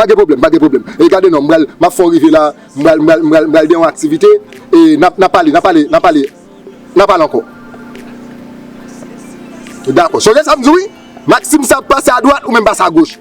Pa gen pwoblèm, pa gen pwoblèm. E gade non, m pral, m ap fè yon rive la, m pral, m pral, m pral gen yon aktivite, e n ap, n ap pale, n ap pale, n ap pale, n ap pale ankò. Dakò. Sonje sa m di w wi, Maksim sa ap pase adwat, ou menm pase agoch.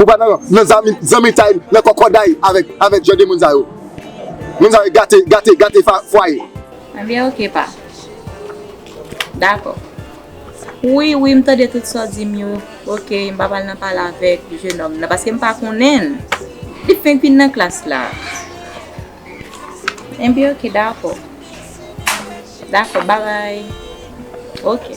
Ou pa nan zanmitay, nan kòkòday avèk jan de moun sa yo. Moun sa yo gate, gate, gate fwaye. Ebyen ok pa. Dakò. Wi, wi, m tande tout sa w di m yo. Ok, m pap al nan pale avèk jenòm nan paske m pa konnen l. Li fenk vin nan klas la. Ebyen ok, dakò. Dakò, babay. Ok.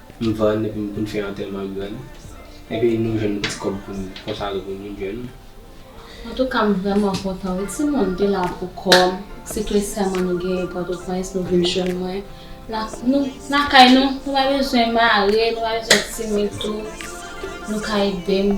M vann epi m konn fè antèman m vann epi nou jwenn ti kòb pou n konsakre pou moun jèn. Antouka m vrèman kontan wi timoun te la pou kòm se kle sèman nou genyen pòtoprens nou vin jwenn mwen lakay nou nou pa bezwen mare nou pa bezwen timid tou nou ka edem.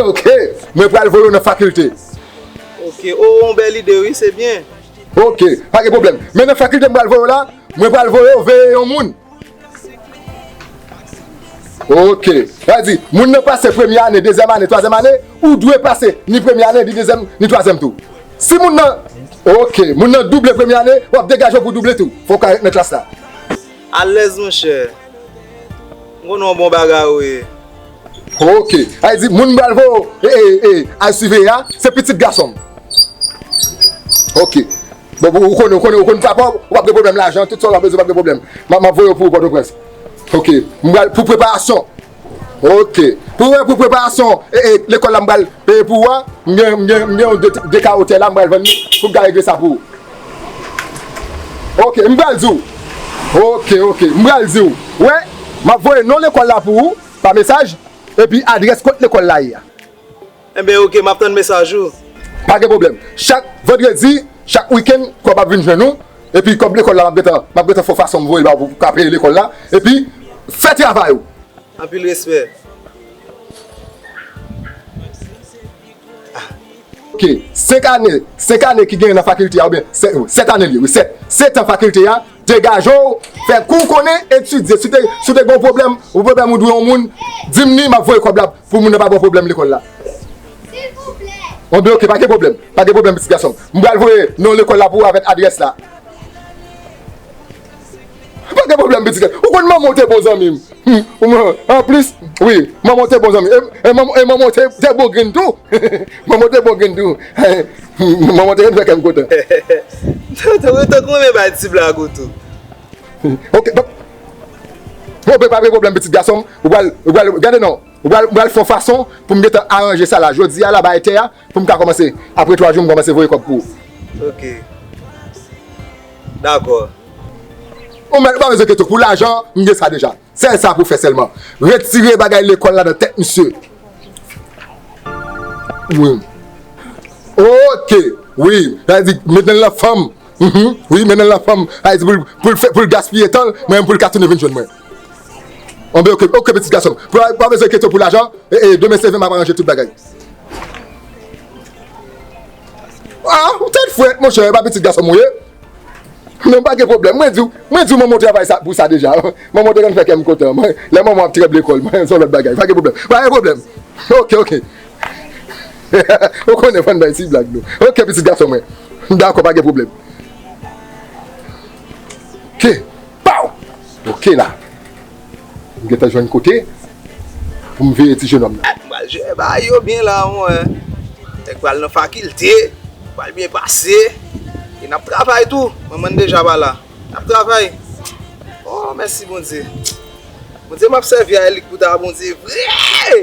Ok, mwen pral voye w nan fakilte. Ok, o yon bèl ide wi, se byen. Ok, pa gen pwoblèm. Men nan fakilte m pral voye w la, mwen pral voye w veye yon moun. Ok, sa di, moun nan pase premye ane, dezyèm ane, twazyèm ane, ou dwe pase ni premye ane, ni dezyèm, ni twazyèm tou. Si moun nan, ok, moun nan double premye ane, w ap degaje w pou w double tou. Fò w ka ret nan klas la. Alèz monchè. M konnen w bon bagay ou ye. Ok Ay di moun m pral voye w ee al siveye a se pitit gason m. Ok bon ou konnen ou konn papa w ou pap gen pwoblèm lajan tout sa w ta bezwen ou pap gen pwoblèm. M ap voye w pou Pòtoprens. Ok m pral pou preparasyon. Ok Pou mwen pou preparasyon lekòl la m pral peye pou ou a m gen yon 2 kawo tè la m pral vann li pou m ka regle sa pou ou Ok m pral di ou Ok ok m pral di ou wè m ap voye non lekòl la pou ou pa mesaj epi adrès kot lekòl la ye a. Enben ok map tann mesaj ou. Pa gen pwoblèm. Chak vandredi, chak weekend kòb ap vin jwenn ou epi kòb lekòl la map gentan map gentan fè w fason m voye ba w pou w ka peye lekòl la epi fè travay ou. Anpil respè. Ok 5 ane 5 ane ki genyen nan fakilte a oubyen 7 ane li ye wi 7 7 an fakilte a Degaje w, fè kou w konnen, etidye. Si w te gen yon pwoblèm, yon pwoblèm ou dwe yon moun, di m ni m ap voye kòb la pou moun nan pa ba w pwoblèm lekòl la. Mwen di ok, pa gen pwoblèm. Pa gen pwoblèm pitit gason m. M pral voye non lekòl la pou ou avèk adrès la. Pa gen pwoblèm pitit gason m. Ou konn manman w te bon zanmi m. Humm ou mwen an plis wi manman w te bon zanmi e manman w te bon grenn tou manman w te bon grenn tou manman w te konn fè kè m kontan. Tankou ou t renmen bay ti blag ou tou. Ok papa ok pa gen pwoblèm pitit gason m ou pral gade non ou pral fon fason pou m gentan aranje sa la jodi a la bay tè a. Poum ka komanse apre 3 jou m komanse voye kob pou ou. Ok Dakor. Ou mèt ou pa bezwen keto pou lajan m gen sa deja. Sèl sa pou fè sèlman retire bagay lekol la nan tèt misye wi. Ok wi sa vle di mennen l nan fanm wi mennen l nan fanm sa vle di poul gaspiye tan l mwen pou l ka tounen vin jwenn mwen. Anben ok ok petit gason pa bezwen ketyon pou lajan demen se vin map aranje tout bagay ah ou tèt fwèt monchè epa petit gason m ou ye men pa gen pwoblèm mwen diw mwen diw manman w travay pou sa deja manman w te konn fè kèm kontan lè manman w ap tranble kòl mwen son lòt bagay pa gen pwoblèm pa gen pwoblèm ok ok hehehe ou konnen fòn bay ti blag nou ok petit gason mwen dakò pa gen pwoblèm. Pow! Ok la. M gentan jwenn kote pou m veye ti jenòm nan. M pral jere bagay yo byen la ou wè. Nèg pral nan fakilte, pral byen pase. E nap travay tou. Manman n deja pa la. Nap travay. Oh mèsi Bondye. Bondye map sèvi a li kouta Bondye vre!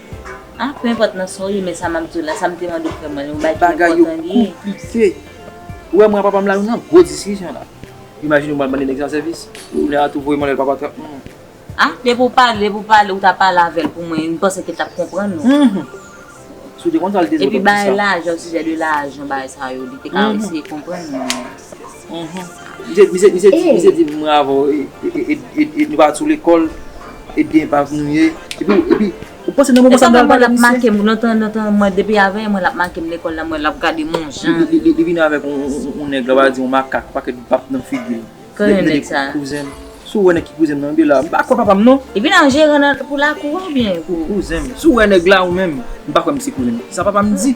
Ah peu importe nan sa w ye men sa map diw la sa m te mande frè mwen yon bagay ki enpòtan li ye. Bagay yo konplike. Ou wè mwen a papa m la nou nan gwo diskisyon la. Imajine ou mal mande nèg sa sèvis. Kounye a tou voye m anlè papa trap humm. Ah depi w pale depi w pale ou ta pale avè l pou mwen m panse ke l tap konprann ou. Humm. Si w te konn sa l te di w tap di sa. Epi bagay lajan sijè de lajan bagay sa yo li te ka eseye konprann ou. Misye di mwen avèw e nou pa sou lekòl e byen epav nou ye epi ou panse nan moman sa mwen pral pale misye. Nan tan nan tan mwen depi avèl mwen lap makem lekòl la mwen lap gade mwen jan li. Li vin avèk yon nèg la va di yon makak pakèt baf nan figil. Konnen nèg sa. Kouzenm. Si ou wè nèg ki kouzenm nan anbyen la m pa kwè papam non. Li vin an jeran nan pou lakou a oubyen pou. Kouzenm. Si ou wè nèg la ou menm m pa kwè misye kouzenm. Sa papam di.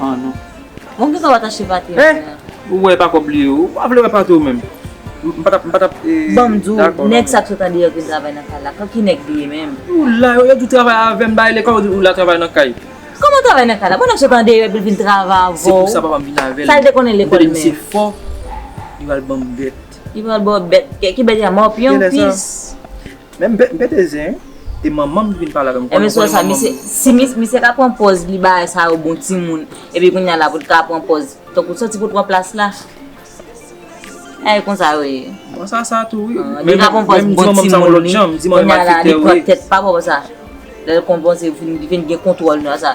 An non. Bon kisa wap achte pate a. Eh! Ou wè pako bliye ou. Ou pa vle wè pate ou menm. M pa tap, m pa tap e. Banm di w, nèg sa k sot andeyò k vin travay nan kay la, ki nèg li ye menm? Ou la, yo di w travay avè m, bay lekòl, ou di ou la travay nan kay. Kòman travay nan kay la? Bon nèg sot andeyò epi l vin travay avè w. Se pou sa papa m vin avè l. Sa l te konnen lekòl menm? M tande misye fò, li pral banm bèt. Li pral ba w bèt, ki bèt ya? Mòpyon, pis? Men m pete zen wi. E manman m ki vin pale avè m. Ou konnen manman m wi. Si misye ka pran pòz li bagay sa yo bon timoun. Epi kounya la pou l ka pran pòz. Tankou soti pou l pran plas la. E konsa yo ye. Bon sa sa tou wi. Li ka pran pòz bon timoun li. Kounya la li pran tèt pa bò konsa. Lè l konpòze li vin gen kontwòl nan sa.